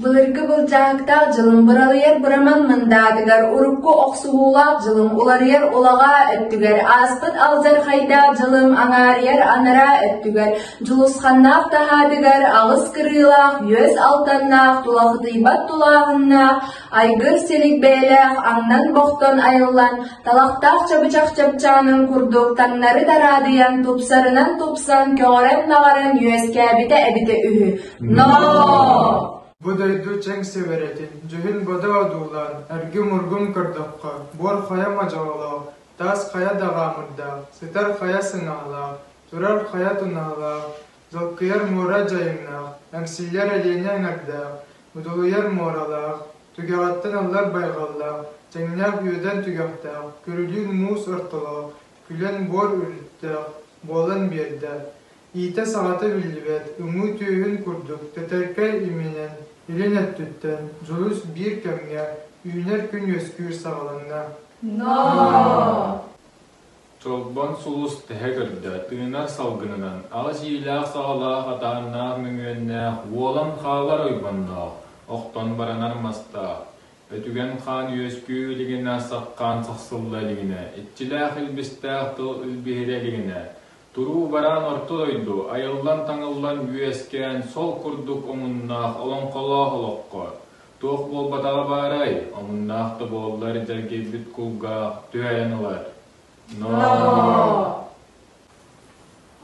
Былыргы былчаактаах дьылым быралыйар быраман мындаатыгар урукку охсуһуулаах дьылым уларыйар улаҕаа өттүгэр ааспыт алдьархайдаах дьылым аҥаарыйар анараа өттүгэр дьулусханнаах таһаатыгар аҕыс кырыылаах үөс алтаннаах тулахытыйбат тулааһыннаах Айгыр силик бэйэлээх аҥнан бохтон айыллан, талахтаах чабычах чапчаанын курдук таҥнары дараадыйан тупсарынан тупсан көҕөрөн-наҕаран үөскээбитэ эбитэ үһү. Ноо! Бу дойду чэҥ сэбэрэтин, дьүһүн бодо одуулаан, эргим-ургум көрдөххө, буор хайа модьоҕолоох, таас хайа даҕаамырдаах, сытар хайа сыҥаалаах, турар хайа тунаалаах, Долгуйар муора дьайыҥнаах, эмсиллэр Элиэнэ эҥэрдээх, удулуйар муоралаах, түгэҕиттэн ыллар байҕаллаах, тэҥнээх үөдэн түгэхтээх, күрүлүүн муус ортолоох, күлэн буор үрүттээх буолан биэрдэ. Иитэ саҕата биллибэт уҥуу түөһүн курдук тэтэркэй иминэн илин өттүттэн дьулус биир кэмҥэ үүнэр күн үөскүүр саҕаланна. Ноо! Чолбон сулус тэһэ көрдө, тыынар салгынынан, аҕыс иилээх-саҕалаах атааннаах мөҥүөннээх, уолан хаалар ойбонноох, охтон баранар мастаах, өтүгэн хаан үөскүү илигинэ, сапхаан сахсылла илигинэ, иччилээх илбистээх тыл илбиһирэ илигинэ, туруу-бараан орто дойду, айыллан-таҥыллан үөскээн, сол курдук омуннаах олоҥхолоох олоххо, Туох буолбатаҕа баарай, омуннаах да буоллар дьэргийбит кулгаах түһэрэн ылар. Но...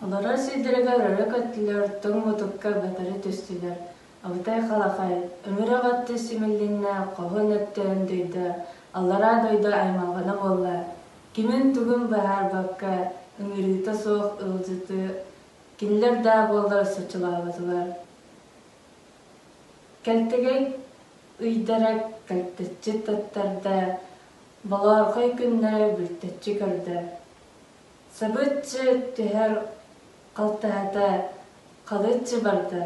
Олорор сиидэригэр өрө көттүлэр, тоҥ мутукка батары түстүлэр. Абытай халахай, өҥүрэх атты симиллиннэ, хоһун өттөөн дойда, аллараа дойду аймалҕана буолла. Кимин-тугун быһаарбакка, ыҥырыыта суох ыалдьыты, кинилэр даа буоллар соччолооботулар. Кэлтэгэй ыйдара кэлтэччи таттарда, балаархай күннэри бүртэччи көрдө. Сабыччы түһэр халтаһата халыччы барда.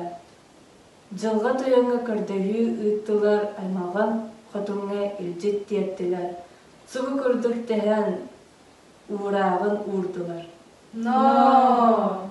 Дьылҕа тойоҥҥо көрдөһүү ыыттылар аймалҕан хотуҥҥа илдьит тиэртилэр, субу курдук тэһэн уурааҕын уурдулар. Ноо!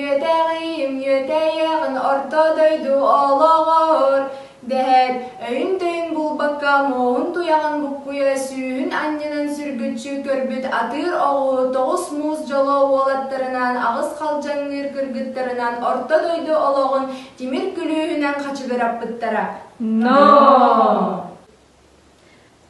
Үөтэҕиим үөтэйэҕин орто дойду олоҕор дэһэр өйүн-төйүн булбакка муоһун туйаҕын буккуйа сүүһүн анньынан сүргүччү көрбүт атыыр оҕу тоҕус муус дьоло уолаттарынан аҕыс халдьаҥныыр кыргыттарынан орто дойду олоҕун тимир күлүүһүнэн хачыгыраппыттара. Ноо!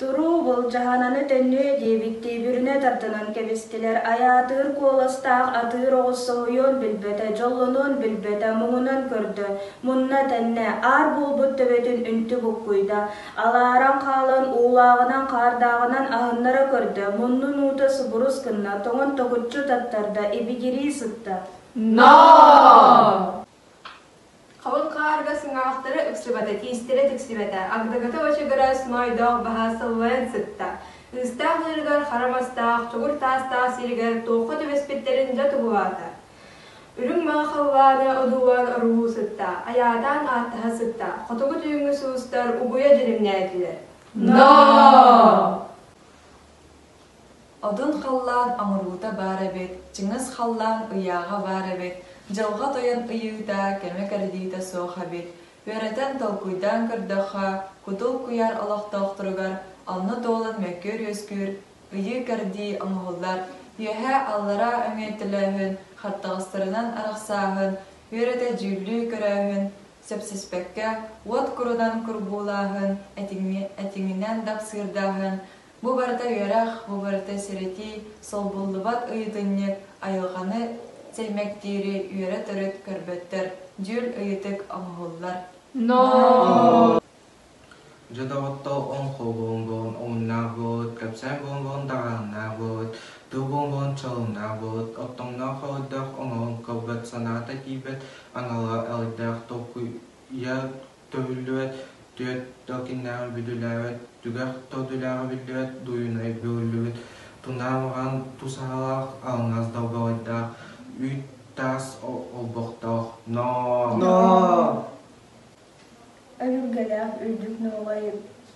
Туруу, былдьаһананы төннүө диэбиттии бүрүнэ тардынан кэбистилэр. Айаатыыр куоластаах атыыр оҕус соһуйуон билбэтэ, дьоллонуон билбэтэ, муҥунан көрдө. Мунна тэннэ, аар буолбут төбөтүн үнтү буккуйда. Алааран хаалан, уулааҕынан хаардааҕынан аһыннара көрдө, муннун уута субурус гынна, тоҥон токуччу таттарда, ибигирии сытта. «Ноо!» Халыҥ хаарга сыҥаахтара ыксыбата, тиистэрэ тиксибэтэ, агдыгыта бачыгырас маайдаах баһа сыллайан сытта. Ыыстаах ыырыгар хара мастаах, чугур таастаах сиригэр туохха түбэспиттэрин дьэ туһулаата. Үрүҥ маҥа халлааны одуулаан оруһуу сытта, айаатаан ааттаһа сытта, хотугу түүҥҥү суустар угуйа дьиримнээтилэр. «Ноо!» Отун халлаан оҥоруута баар эбит, чыҥыс халлаан ыйааҕа баар эбит, дьылҕа тойон ыйыыта, кэмэ кэрдиитэ суох эбит. Үөрэтэн, толкуйдаан көрдөххө, кутул куйаар олохтоохторугар онно туолан мөккүөр-үөскүүр, ыйыы-кэрдии оҥоһуллар. Үөһээ аллараа өҥөй төлөөһүн, хаттаҕастарынан арахсааһын, үөрэтэ дьүүллүү көрөөһүн, сөпсүспэккэ, уот курунан курбуулааһын, этиҥинэн дапсыырдааһын, Бу барыта үөрэх, бу барыта сэрэтии, солбуллубат ыйытынньык, айылҕаны сэймэктиири үөрэ-төрүт көрбөттөр, дьүүл ыйытык оҥоһуллар. Но. Дьэ доҕоттор, оҥхол буомбун, умнаах буолут, кэпсээн буомбун даҕааннаах буолут, тыл буомбун чалымнаах буолут, оттоҥноох холойдоох оҥоһун кылбыт санаата киирбэт анала элэйдээх толкуйа Төбүллүбэт, түөрт да кинилээҕи бүдүлээбэт, түгэх да одуулааҕы биллибэт, дуйунай бөҕүллүбүт, тунаам аҕан тус аһалаах, алҕас долбоҕойдаах, үүт таас олбохтоох, ноо! Ноо! Өлүргэлээх үрдүк нуолай,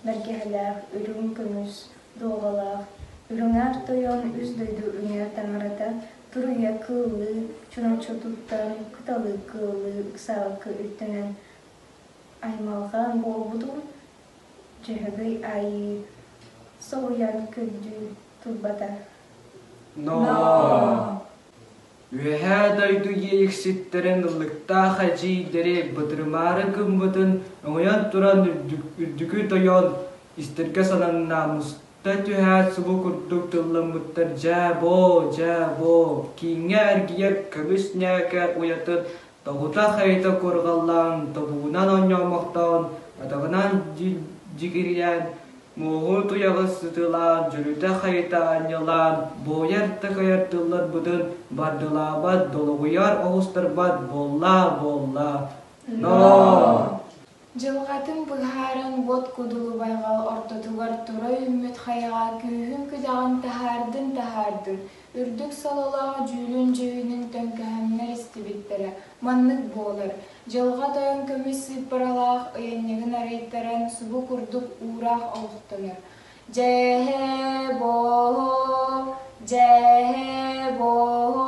бэргэһэлээх үрүҥ көмүс дуоҕалаах, үрүҥээх тойон үс дойду үҥэ таҥарата туруйа кыыллыы чурапчы туттан кыталык кыыллыы ыксаабыкка үктэнэн Аймалҕан буолбутум, Дьөһөгөй Айыы соһуйан күндүү турбата. Ноо! Үөһээ дойду иэйикситтэрин ыллыктаах эдьиийдэри бытырымаары гыммытын өҥөйөн туран үрдүкү тойон истиргэ санан намыста түһээт субу курдук тыллыммыттар дьээ боо дьээ боо кииҥҥэ эргийэр көмүс ньээкэ уйатын Тобутах эйэтэ куорҕаллаан, тобугунан онньоомохтоон, атаҕынан дьигирийэн, муоһу туйаҕы сытыылаан, дьүрүтэх эйэтэ анньылаан, буойар-такайар тылларбытын бардылаабат, долоҕуйар оҕустарбат буоллаа-буоллаа, ноо! Дьылҕатын быһааран Буот Кудулубайга ортотугар тура үүммүт хайаҕа күүһүн-күдэҕин таһаардын-таһаардын, үрдүк сололоох дьүүлүн-дьүһүнүн төҥкөһүннэр истибиттэрэ маннык буолар, Дьылҕа Тойон көмүс сыыппаралаах ыйанньыгын арыйтаран субу курдук уураах олохтонор. Дьээһэ-бооһо, дьээһэ-бооһо,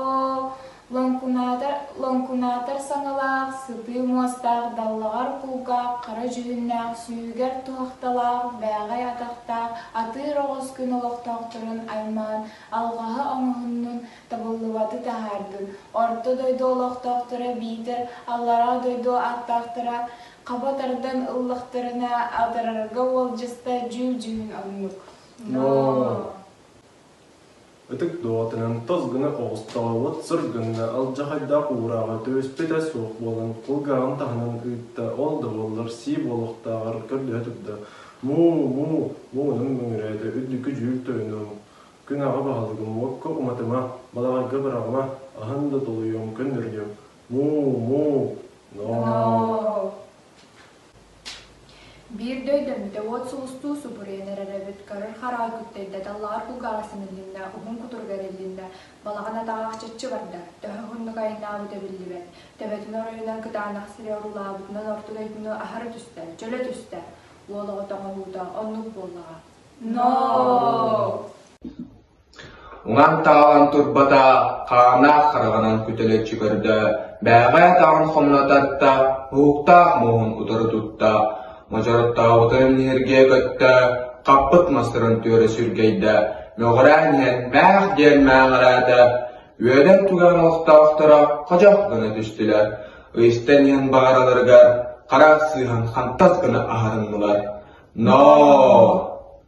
лоҥкунаатар, лоҥкунаатар саҥалаах, сытыы муостаах, даллаҕар кулгаах, хара дьүһүннээх, сүүһүгэр туһахталаах, бээҕэй атахтаах, атыыр оҕус күн олохтоохторун аймаан, алҕаһы оҥоһуннун, табыллыбаты таһаардын. Орто дойду олохтоохторо биитэр аллараа дойду ааттаахтара Хаба тардан ыллахтарына атарарга уолдьаста дьүүл-дьүһүн оннук. Но. Ытык доҕоторун тос гына оҕустаҕабыт, сыр гынна алдьархайдаах уурааҕа түбэспитэ суох буолан, кулгааҕын таһынан ыытта, ол да буоллар сии буолуохтааҕар көрдөһө турда, Муу, муу, муунун мөҥүрээтэ үрдүкү дьүүл тойонум, күн аҕа баһылыгым уокка уматыма, балаҕайга быраҕыма, аһын да толуйуом, көннөрүлүөм, Му-му, ноо. Биир да өйдөммүтэ уот сулустуу субуруйан эрэр эбит, көрөр хараҕы күттэрдэтэ лаар кулгааҕа симиллиннэ, уһун кутуругар иллиннэ, балаҕан атаҕаах чаччы барда, төһө уһуннук айаннаабыта биллибэт, төбөтүн оройунан кытаанах сири оруулаабытынан орто дойдуну аһара түстэ, чөлө түстэ, уол оҕо тоҥоһуута оннук буоллаҕа. Ноо! Лаҥтаалан турбата хааннаах хараҕынан күтэлэччи көрдө, бээҕээ атаҕын хомунататта, уһуктаах муоһун утары тутта, модьороттообутун ньиргийэ көттө, хаппыт мастарын түөрэ сүргэйдэ, мөҕүрээн иһэн мээх диэн мээҕэрээтэ, үөдэн туган олохтоохторо ходьох гына түстүлэр, ыйыстан иһэн баҕараларыгар хара сыыһан хантас гына аһарыннылар: «Ноо!»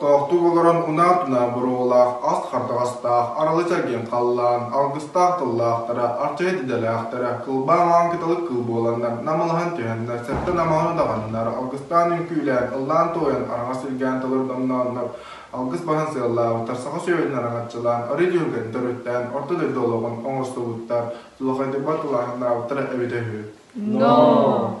Тохтуук олорон унаа-тунаа боруобалаах ас хардаҕастаах аралы чэргиэн халлаан алгыстаах тыллаахтара, арчайы дидэлээхтэрэ, кылбаан аан кыталык кыл буоланнар, намалаһан түһэннэр, сэттэ намаҕаны даҕаннар, алгыстаан үҥкүүлээн, ыллаан-туойан араҥас илгээн толордомнооннор, алгыс баһын сыаллаабыттар саха сүөһүтүн араҥаччылаан, арыы түөлгэтин төрүттээн орто дойду олоҕун оҥостубуттар, дьулахайдык батталааһыннаабыттара эбитэ үһү. Ноо!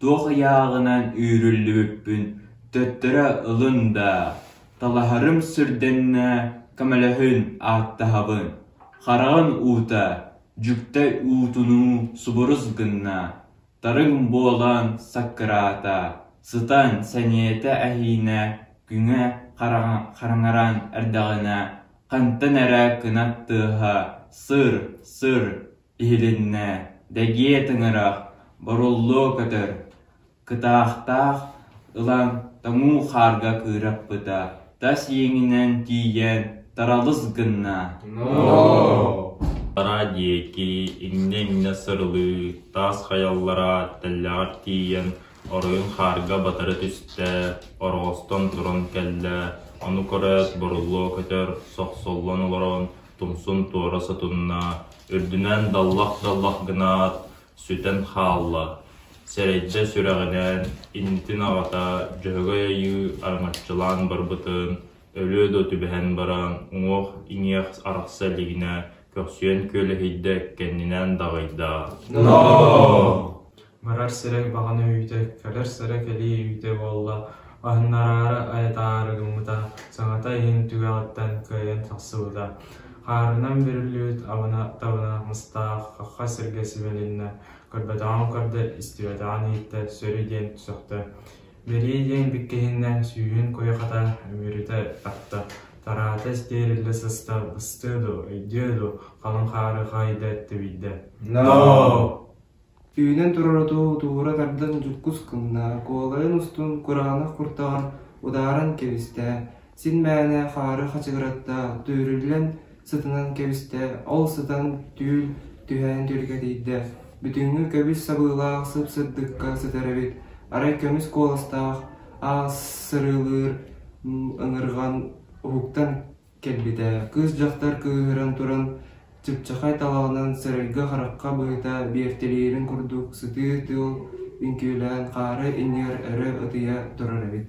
Туох ыйааҕынан үүрүллүбүппүн төттөрү ылын даа, талаһарым сүрдэннэ, көмөлөһүн, ааттаһабын, хараҕын уута, дьүктэй уутунуу субурус гынна, тарыҥ буолан саккыраата, сытан сэниэтэ эһиинэ күҥэ хараҥаран эрдэҕинэ хантан эрэ кынат тыаһа сыр-сыр иһилиннэ, дэгиэ тыҥырах, боруллуо көтөр, кытаахтаах ылан тоҥуу хаарга кыыраппыта, тас иэҥинэн тиийэн таралыс гынна. Араа диэки иннэ-иннэ сырылыы, таас хайаллара тэллэҕэр тиийэн оройун хаарга батары түстэ, ороҕостон туран кэллэ, ону көрөөт боруллуо көтөр сохсоллон олорон тумсун туора сотунна, үрдүнэн даллах-даллах гынаат, сүтэн хаалла. Сэрэйдьэ сүрэҕинээн иннитин аҕата Дьөһөгөй Айыы араҥаччылаан барбытын, өлүө да түбэһэн баран, уҥуох-иҥиэх арахса илигинэ көхсүөн күөлэһийдэ кэннинээн даҕайда: «Ноо!» Барар сирэ баҕана үүтэ, кэлэр сирэ кэлии үүтэ буолла, аһыннараары айатаары гыммыта, саҥата иһин түгэҕиттэн кыайан тахсыбыта. Хаарынан бүрүллүбүт абына-табына мыстаах хахха сиргэ сибэлиннэ, көрбөтөҕүн көрдө, истибэтэҕин иһиттэ, сөрү диэн сөхтө. Бэрии диэн биккиһиннэ, сүүһүн куйахата үмүрүтэ тарта, тараата истиэриллэ сыста, быстыа дуо, өйдүө дуо, халыҥ хаары хаайда, тэбийдэ. Үүнэн турар оту туура тардан дьуккус гынна, куолайын устун кураанах куртаҕын удааран кэбистэ, син мээнэ хаары хачыгыратта, түөрүллэн сытынан кэбистэ, ол сытан түүл түһээн түргэтийдэ. Бүтүҥҥү көбүс сабыылаах сып-сырдыкка сытар эбит, арай көмүс куоластаах аас сырыылыыр ыҥырҕан уһуктан Кэлбитэ, кыыс-дьахтар кыыһыран туран, чыпчахай талаҕынан сэрэлгэ-харахха быһыта биэртэлиирин курдук сытыы тыыл үҥкүүлээн хаары иннигэр өрө ытыйа турар эбит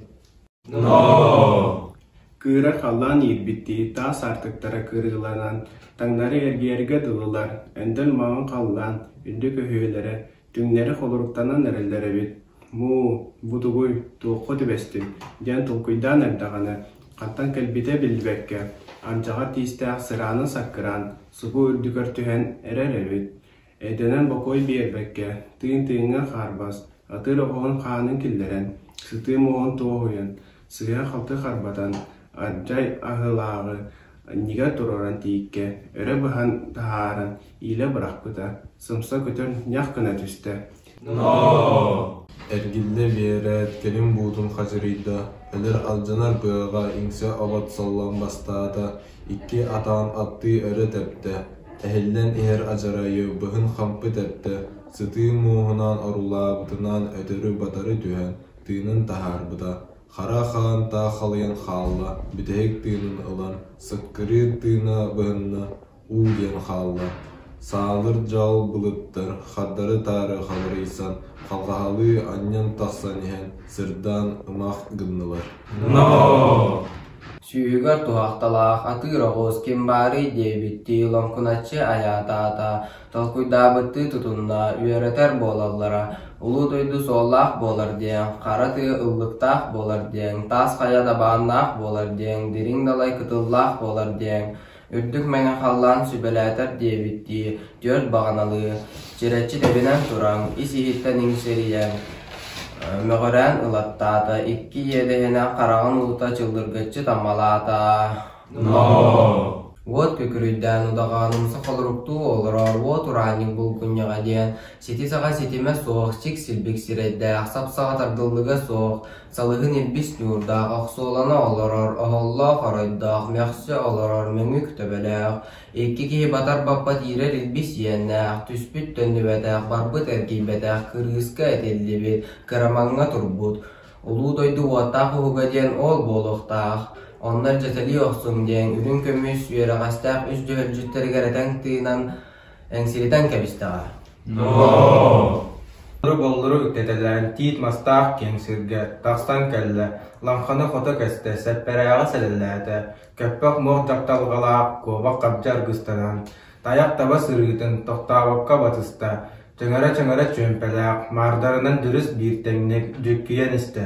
Кыыра халлаан иирбиттии таас аартыктара кырыыланан, таҥнары эргиэргэ дылылар, өндөн маҥан халлаан, үрдүк өһүөлэрэ Түҥнэри холоруктанан эрэллэр эбит. Муу, бу тугуй, туохха түбэстиҥ? диэн толкуйдаан эрдэҕинэ, хантан кэлбитэ биллибэккэ, ардьаҕар тиистээх сыраанан-саккыраан субу үрдүгэр түһэн эрэр эбит. Эдэнэн бокуой биэрбэккэ, тыын тыыҥҥа хаарбас, атыыр оҕуһун хаанын киллэрэн, сытыы муоһун туоһуйан, сыыһа-халты харбатан, адьай аһыылааҕы анньыга туруоран тииккэ өрө быһан таһааран иилэ бырахпыта, сымса көтөн ньах гына түстэ Эргиллэ биэрээт кэлин буутун хадьырыйда, өлөр алдьанар быаҕа иҥсэ обот соллон бастаата, икки атаан аттыы өрө тэптэ, эһиллэн иһэр адьарайы быһын хампы тэптэ, сытыы мууһунаан орулаабытынан өтөрү-батары түһэн, тыынын таһаарбыта, хара хаантаах халыйан хаалла, бүтэһик тыынын ылан, сыккырыыр тыына быһынна, уу диэн хаалла. Саалыр дьаал былыттар хардары-таары халырыйсан, халҕаһалыы анньан тахсан иһэн, сырдаан ымах гыннылар. Ноо! Сүүһүгэр туһахталаах атыыр оҕуос ким баарый? диэбиттии лоҥкуначчы айаатаата, толкуйдаабыттыы тутунна, үөрэтэр буолаллара, улуу дойду суоллаах буолар диэн, хара тыа ыллыктаах буолар диэн, таас хайа дабааннаах буолар диэн, дириҥ далай кытыллаах буолар диэн, үрдүк мэҥэ халлаан сүбэлээтэр диэбиттии, түөрт баҕаналыы, чирэччи тэбинэн туран, ис-иһиттэн иҥсирийэн, мөҕүрээн ылаттаата, икки иэдэһинэ хараҕын уута чыллыргыччы таммалаата Уот күкүрүйдээн удаҕаным сохолоруктуу олорор уот ураанньык булгунньаҕа диэн сити-саҕа ситимэ суох сик-силбик сирэйдээх сап-саҕа тардыллыга суох салыһын илбис ньуурдаах охсуолана олорор оһоллоох оройдоох мөхсө олорор мөҥүк төбөлөөх икки киһи батар баппат иирэр илбис иэннээх түспүт төннүбэтэх барбыт эргийбэтэх кырыыска этиллибит кырамаҥҥа турбут Улуу дойду уоттаах уһуга диэн оол буолуохтаах, оннор дьэтэлии охсуҥ диэн үрүҥ көмүс үөрэҕэстээх үс дьөһөлдьүттэригэр этэн тыынан, эҥсилитэн кэбистэҕэ. Боллору-боллору үктэтэлээн тиит мастаах киэҥ сиргэ тахсан кэллэ, лаҥханы хото кэстэ, сэппэрээҕи сэлэлээтэ, көппөх мох дьахталҕалаах куобах хабдьа аргыстанан, тайах таба сырыытын тохтообокко батыста, Чыҥыра-чыҥыра чүөмпэлээх, маардарынан дьүрүс биир тэҥник дьүккүйэн истэ,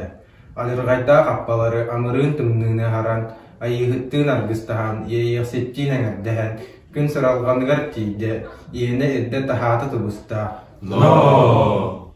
адьырҕайдаах хаппалары амырыын тымныыны аһаран, айыыһыттыын аргыстаһан, иэйиэхситтиин эҥэрдэһэн, күн сыралҕаныгар тиийдэ, иэнэ ирдэ-таһаата тубуста: «Ноо!»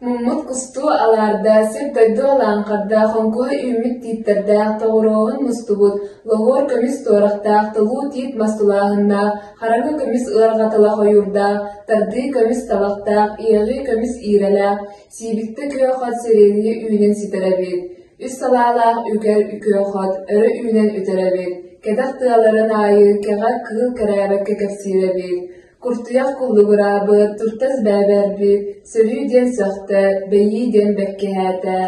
Муммут кустуу алаарда, сир-дойду алааҥхарда, хоҥкуйа үүммүт тииттэрдээх, тоҕуруоһун мустубут, лоһуор көмүс туорахтаах, тулуу тиит мас тулааһыннаах, хараҥа көмүс ыарҕа тыла хойуурдаах, тардыы көмүс табахтаах, иэҕии көмүс иирэлээх, сиибиктэ күөх-от сириэлии үүнэн ситэр эбит. Үс салаалаах үгэр күөх-от өрө үүнэн үтэр эбит. Кэтэх тыаларын аайы кэҕэ кыыл кэрээбэккэ кэпсиир эбит. Кустуйах куллугураабы, туртас бээбэрби, сөрүү диэн сөхтө, бэйии диэн бэккэһээтэ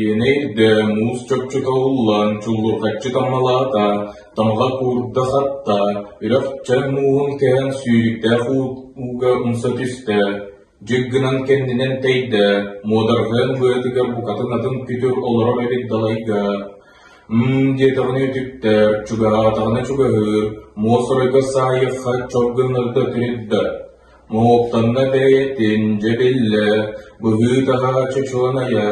Иэнэйдэ муус чопчута уллан чуллурҕаччы таммалаата, тамаҕа куурда-хатта, үрэх-чай мууһун кэһэн сүүрүктээх ууга умса түстэ. Дьик гынан кэннинэн тэйдэ, муодарҕыан быатыгар букатын атын күтүр олорор эбит далайга. Һыы диэтэҕинэ үтүктэр, чугаһаатаҕына чугаһыыр, муосурайга саайыахха чоп гыннарда тириддэ, моһуоктанна бэйэтин, дьэ биллэ, быһыы-таһа чочуланайа,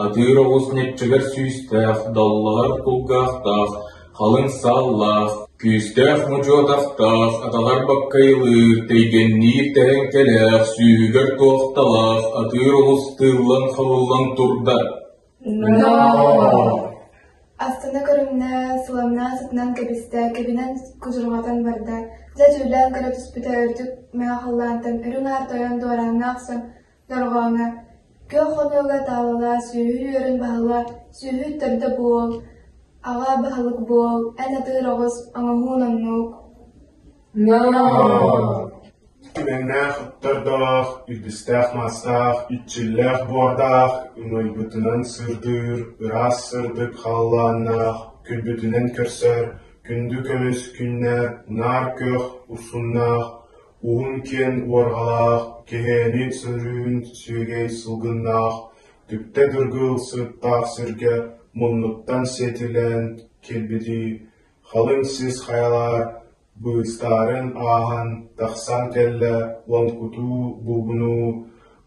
атыыр оҕус ньиччэгэр сүүстээх, даллаһар кулгаахтаах, халыҥ сааллаах, күүстээх мучу атахтаах, атаҕар баккайылыыр, тэйгэнниир тэһэҥкэлээх, сүүһүгэр туохталаах, атыыр оҕус тыыллан-хабыллан турда. Астына көрүҥнэ, суламнаа сытынан кэбистэ, кэбинэн кудурҕатан барда. Дьэ түүлээн көрө түспүтэ үрдүк маа халлаантан үрүҥ аар тойон дуорааҥҥа охсон дорҕооҥҥо күөх хонуога таалала сүөһү үөрүн баһыла сүөһү төрдө буол, аҕа баһылык буол, эн атыыр оҕус оҥоһуун оннук Түмэннээх ыттардаах, илбистээх маастаах, иччиллээх буордаах, ымайбытынан сырдыыр, ыраас сырдык халлааннаах, күлбүтүнэн көрсөр, күндү көмүс күннэр, наар күөх усуннаах, уһун киэн уорҕалаах, кэһээни сөрүүн сүөгэй сылгыннаах, түптэ дыргыл сыттаах сиргэ муннуктан сиэтилээн кэлбитий Халыҥ сис хайала быыстарын ааһан тахсан кэллэ уон кутуу бугунуу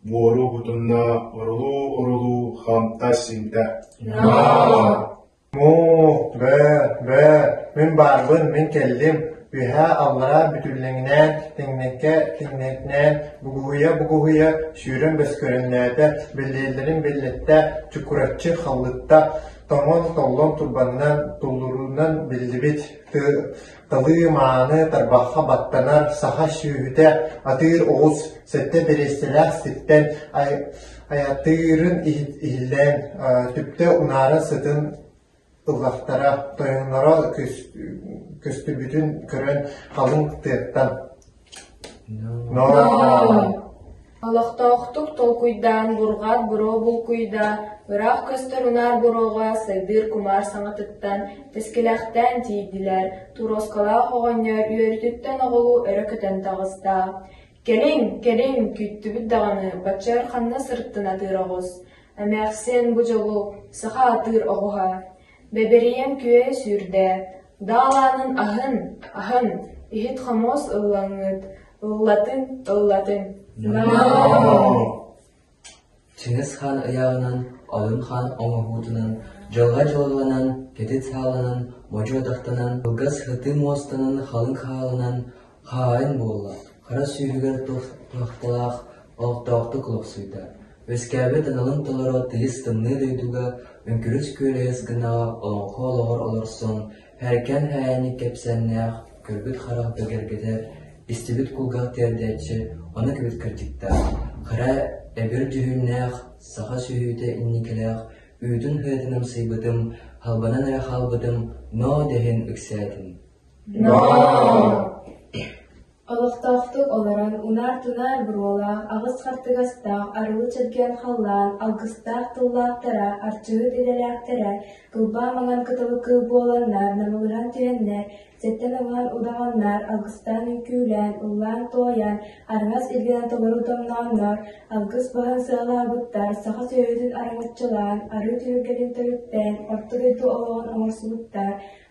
буору кутунна орулуу-орулуу хамта-симтэ «Мух, бээ, бээ, мин барбын, мин кэллим, үөһээ аллараа бүтүллэҥинээн тэҥнэккэ тэҥнэтинээн бугуһуйа-бугуһуйа сүүрэн бөскөрүннээтэ, биллиэллэрин биллэттэ, чукураччы халлытта, тоҥон толлон турбаннар туллуруунан биллибит талыы мааны тарбахха баттанар саха сүөһүтэ атыыр оҕус сэттэ бириэстэлээх ситтэн айатыырын иһиллээн түптэ унаара сытын ыллахтара тойонноро көстүбүтүн көрөн халыҥ тыаттан Олохтоохтук толкуйдаан бурҕат буруо булкуйда, ыраах көстөр унаар буруоҕа сайдыыр кумаар саҥатыттан тэскилэхтээн тиийдилэр, туруоскалаах оҕонньор үөрүүтүттэн оҕолуу өрө көтөн таҕыста. «Кэлиҥ, кэлиҥ, күүттүбүт даҕаны, баччар ханна сырыттын атыыр оҕус, эмээхсин бу дьолу саха атыыр оҕуһа» Бэбирийэн күөйэ сүүрдээт, Даалаанын аһын, аһын, иһит-хомуос ыллаҥҥыт, ыллатын, ыллатын. Чыҥыс хаан ыйааҕынан, Олун хаан оҥоһуутунан, дьылҕа-дьылҕанан, кэтит сааланан, модьу атахтанан, кылгас һытыы муостанан халыҥ хаалынан, Хаайын буолла, хара сүүһүгэр туохталаах олохтоохтук олохсуйда, үөскээбит аналын толоро тыйыс тымныы дойдуга үҥкүрүс күөлэйэс гынаҕа олоҥхо олоҕор олорсон, һэркэн һээйэни кэпсээннээх көрбүт харах бэгэргэтэ истибит кулгах тиэрдээччи аны кибит кырдьыктаах, хара эбир дьүһүннээх саха сүһүүтэ инникилээх үүтүн-хыытын амсайбытым, халбанан эрэ хаалбытым, ноо дэһин ыксээтин Олохтоохтук олорон унаар-тунаар буруолаах аҕыс хартыгастаах арылы чэлгэн халлаан алгыстаах тыллаахтара, арчыһыт идэлээхтэрэ тылбаа маҥан кытылы кыыл буоланнар намылыһан түһэннэр, сэттэн ылаан удаҕаннар алгыстаан үҥкүүлээн, ыллаан-туойан, араҥас илгэнэ толору тоҥнооннор, алгыс баһын сыалаабыттар саха сүөһүтүн араҥаччылаан, арыы түһүлгэтин төрүттээн, орто дойду олоҕун оҥорсубуттар,